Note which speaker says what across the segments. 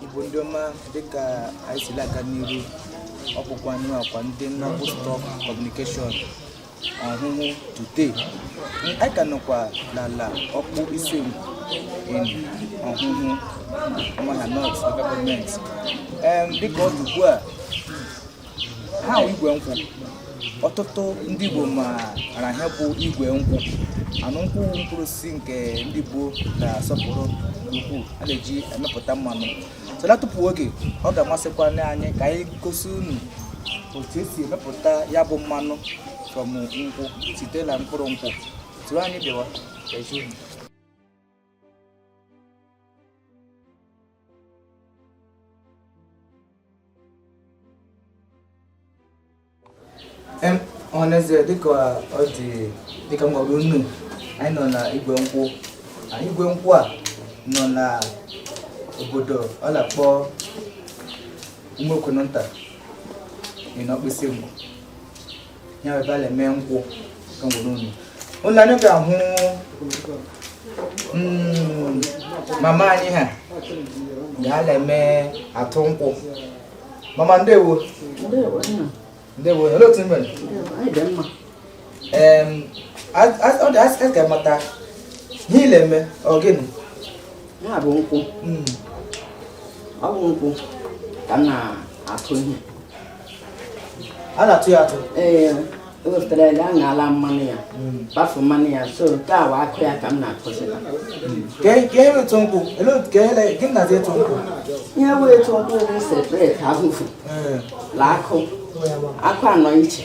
Speaker 1: igbo ndị ọma dịka anyị si aga n'iru ọ bụkwa anyị akwa ndị nnọkwu stock communication ọhụhụ today anyị ka nọkwa n'ala ọkpụ isingwu in ọhụhụ umuahia north local government dịka ọ dị ugbu a ha igwe nkwụ ọtụtụ ndị Igbo maara ihe bụ igwe nkwụ anụ nkwụ mkpụrụ osisi nke ndị Igbo na-asọpụrụ ukwuu a na-eji emepụta mmanụ so l'atufughị oge ọ ga-amasịkwa anyị ka anyị gosi unu otu esi emepụta ya bụ mmanụ from nkwụ site na mkpụrụ nkwụ soro anyị bịawa ọhaneze dịka ọ dị dịka m gwara unu anyị nọ na igwe nkwụ anyị igwe nkwụ a nọ na obodo a na-akpọ ụmụokononta dị n'ọkpụ isingwu ya bụ ebe a na-eme nkwụ ka m gwara unu ụlọ anyị ga-ahụ mm, mama anyị ha ga na-eme atụ nkwụ mama ndewo ndewo olee otu i mere ọ dị mma asị ka m mata ihe ị la-eme ọ gịnị ya bụ
Speaker 2: nkwụ mm. ọ bụ nkwụ ka m na-atụ ihe
Speaker 1: a na-atụ ya atụ
Speaker 2: ee ewepụtara ya aṅala mmanụ ya kpafu hmm. mmanụ ya so nke a bụ akụ ya ka m na-atụsịta hmm. ka
Speaker 1: ihe e, e wụ ịtụ nkwụ ka ele gịnị dị ịtụ nkwụ ihe wụ ịtụ
Speaker 2: nkwụ bụ separate afụfụ hmm. la akụ akụ anọ iche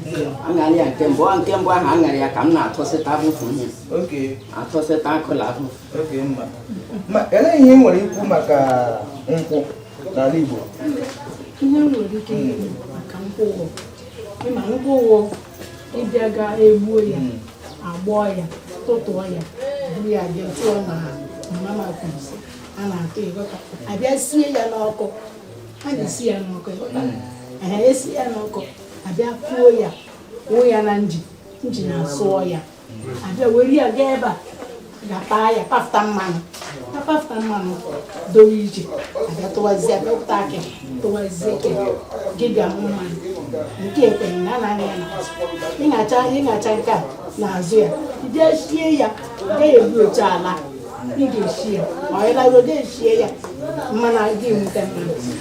Speaker 2: aṅara ya nke mbụ nke mbụ ahụ aṅara ya ka m na-atụsịta afụfụ ihe atụsịta akụ la
Speaker 1: afụfụ elee ihe ị nwere ikwu maka nkwụ n'ala Igbo ihe
Speaker 3: m nwere ikwu maka nkwụ wụ ịma nkwụ wụ ị bịa ga egbuo ya hmm. agbọọ ya tụtụọ ya buru ya bịa tụọ na mama kwuzi a na-atụ ịghọta abịa sie ya n'ọkụ a na-esi ya n'ọkụ ịghọta hmm. esi ya n'ọkụ abịa kuo ya wụọ ya na engine engine asụọ ya abịa were ya gaa ebe a ga-apa ya pafụta mmanụ a pafụta mmanụ dowe iche abịa tụwazie dọpụta akị tụwazie ke gị bịa mụ mmanụ nke ekwenye na anaghị ya n'azụ ịṅacha ịṅacha nke a n'azụ ya ije sie ya gaghị egbu otu ala ị ga-esi ya ọ ịlago ga-esie ya mmanụ aga enweta mmanụ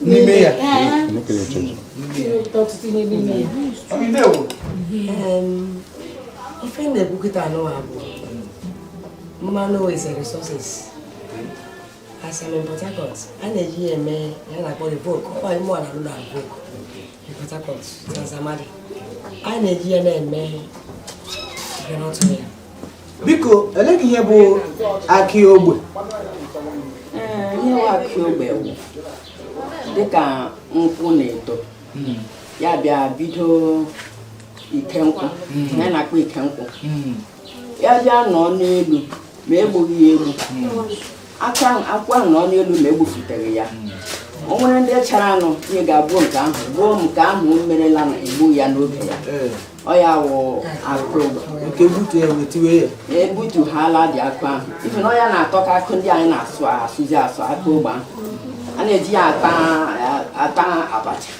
Speaker 4: n'ime ya ife na-ekwu kịta anụwa bụ mmanụ is a resources as I'm in Port Harcourt a na-eji ya eme ihe a na-akpọ RIVOC ọ bụ mụ na-alụ na RIVOC in Port Harcourt Trans Amadi a na-eji ya na-eme groundnut oil
Speaker 1: biko elee ihe bụ akị
Speaker 2: ogbe ihe bụ akị ogbe bụ dịka nkwụ na-eto hmm. ya bịa bido ike nkwụ hmm. ya na-akpọ ike nkwụ hmm. ya bịa nọ n'elu ma egbughị ya egbu akwụ ahụ nọ n'elu ma egbufuteghị ya o nwere ndị chara anụ ihe ga-abụ nke ahụ ruo nke ahụ merela na egbu ya n'oge ya eh. ọ ya wụ akụ ogbe butu ya
Speaker 1: wetiwe ya ebutu ha
Speaker 2: ala dị akụ ahụ ife na ọ ya na-atọ ka akụ ndị anyị na-asụ asụzi asụ akụ ogbe ahụ. a na-eji ya ata abacha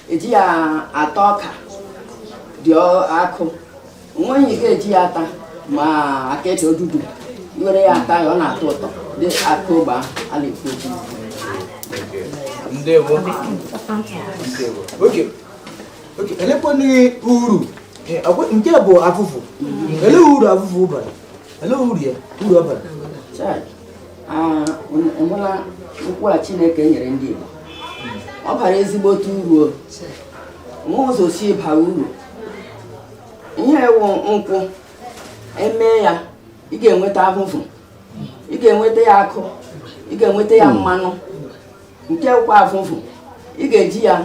Speaker 2: eji ya ata ọka dị ọ- akụ nweghị ihe ị ga-eji ya ata ma akịdị odudu i were ya ata ya ọ na-atọ ụtọ dị akụ ogbe ahụ a na-ekwu okwu ndewo
Speaker 1: ndewo okay elekwanụ uru nke bụ avụvụ ele uru avụvụ bara ele uru ya uru ọ bara
Speaker 2: enwela nkwụ a chineke nyere ndị igbo ọ bara ezigbote uru o nwe ụzọ o si bara uru ihe wụ nkwụ emee ya ị ga-enweta avụvụ ị ga-enweta ya akụ ị ga-enweta ya mmanụ nke kwa avụvụ ị ga-eji ya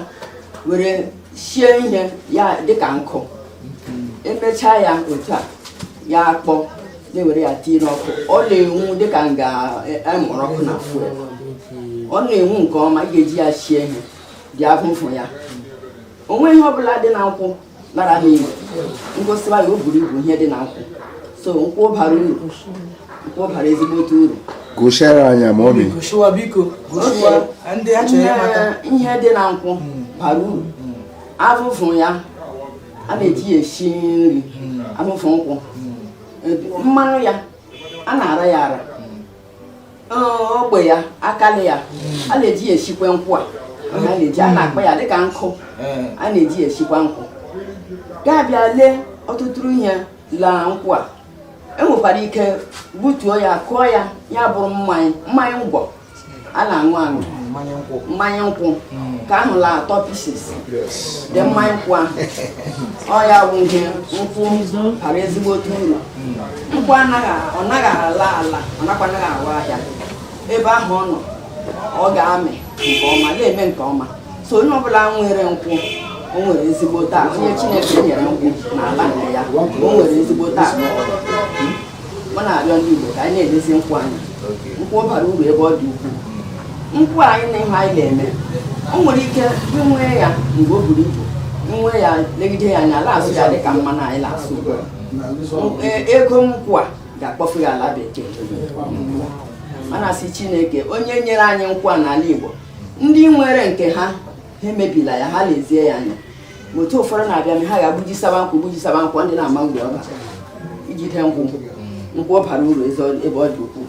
Speaker 2: were sie ihe ya dịka nkụ emechaa ya ọcha ya akpọ na-ewere ya tinye n'ọkụ ọ na-enwu dịka nga emụrụ ọkụ na fuel ọ na-enwu nke ọma ị ga-eji ya sie ihe dị avụvụ ya o nweghị ihe ọbụla dị na nkwụ lara n'iyi m gosiwa ya o buru ibu ihe dị na nkwụ so nkwụ bara uru nkwụ bara ezigbote uru gụchaara anyị
Speaker 5: ma ọ
Speaker 1: ihe dị na
Speaker 2: nkwụ bara uru avụvụ ya a na-eji ya esi nri avụvụ nkwụ mmanụ ya a na-ara ya ara ogbe ya akali ya a na-eji ya esikwa nkwụ a a na-eji a na-akpa ya dịka nkụ a na-eji ya esikwa nkwụ ga-abịa lee ọtụtụ ihe la nkwụ a enwekwara ike gbutuo ya kụọ ya ya bụrụ mmanya mmanya ngwọ a na-aṅụ aṅụ mmanya nkwụ hmm. nke ahụ la-atọ pieces dị mmanya nkwụ ahụ ọ ya bụ ihe nkwụ bara ezigbote uru hmm. Nkwụ anaghị ọ naghị ala ala ọ nakwa anaghị awa ahịa ebe ahụ ọ nọ ọ ga-amị nke ọma ga-eme nke ọma so onye ọbụla nwere nkwụ o nwere ezigbo taa onye Chineke nyere nkwụ n'ala nke ya o nwere ezigbo taa mụ na-arịọ ndị Igbo ka anyị na-elezi nkwụ anya nkwụ bara uru ebe ọ dị ukwuu nkwụ anyị na ihe anyị na-eme o nwere ike inwe ya mgbe o buru ibu inwe ya legide ya anya a la-asụ ya dị ka mmanụ anyị na-asụ ugbu a e, ego nkwụ a ga-akpọfu ya ala bekee mana a sị chineke onye nyere anyị nkwụ a n'ala igbo ndị nwere nke ha ha emebila ya ha lezie ya anya ma otu ụfọdụ na-abịa ha ga-agbujisaba nkwụ gbujisaba nkwụ ndị na-ama uru ọ bara ijide nkwụ nkwụ bara uru ebe ọ dị ukwuu.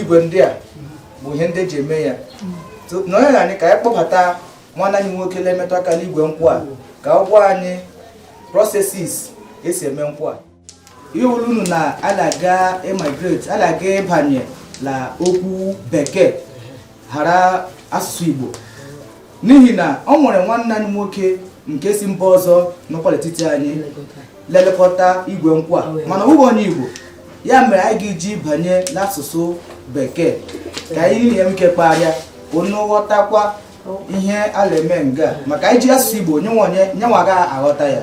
Speaker 1: igwe ndị a bụ ihe ndị eji eme ya nọnyere anyị ka anyị kpọbata nwanne anyị nwoke na-emetụ aka n'igwe nkwụ a ka ọ gwa anyị processes esi eme nkwụ a ihe wuru unu na a na-aga emigrate a na-aga ịbanye na okwu bekee ghara asụsụ Igbo n'ihi na ọ nwere nwanne anyị nwoke nke si mba ọzọ nọkwa n'etiti anyị le-elekọta igwe nkwụ a mana ọ bụghị onye Igbo ya mere anyị ga-eji banye n'asụsụ bekee ka anyị nwee ike kparịa ọnụ ghọtakwa ihe a na-eme nga maka anyị ji asụsụ Igbo nyenwa ga-aghọta ya.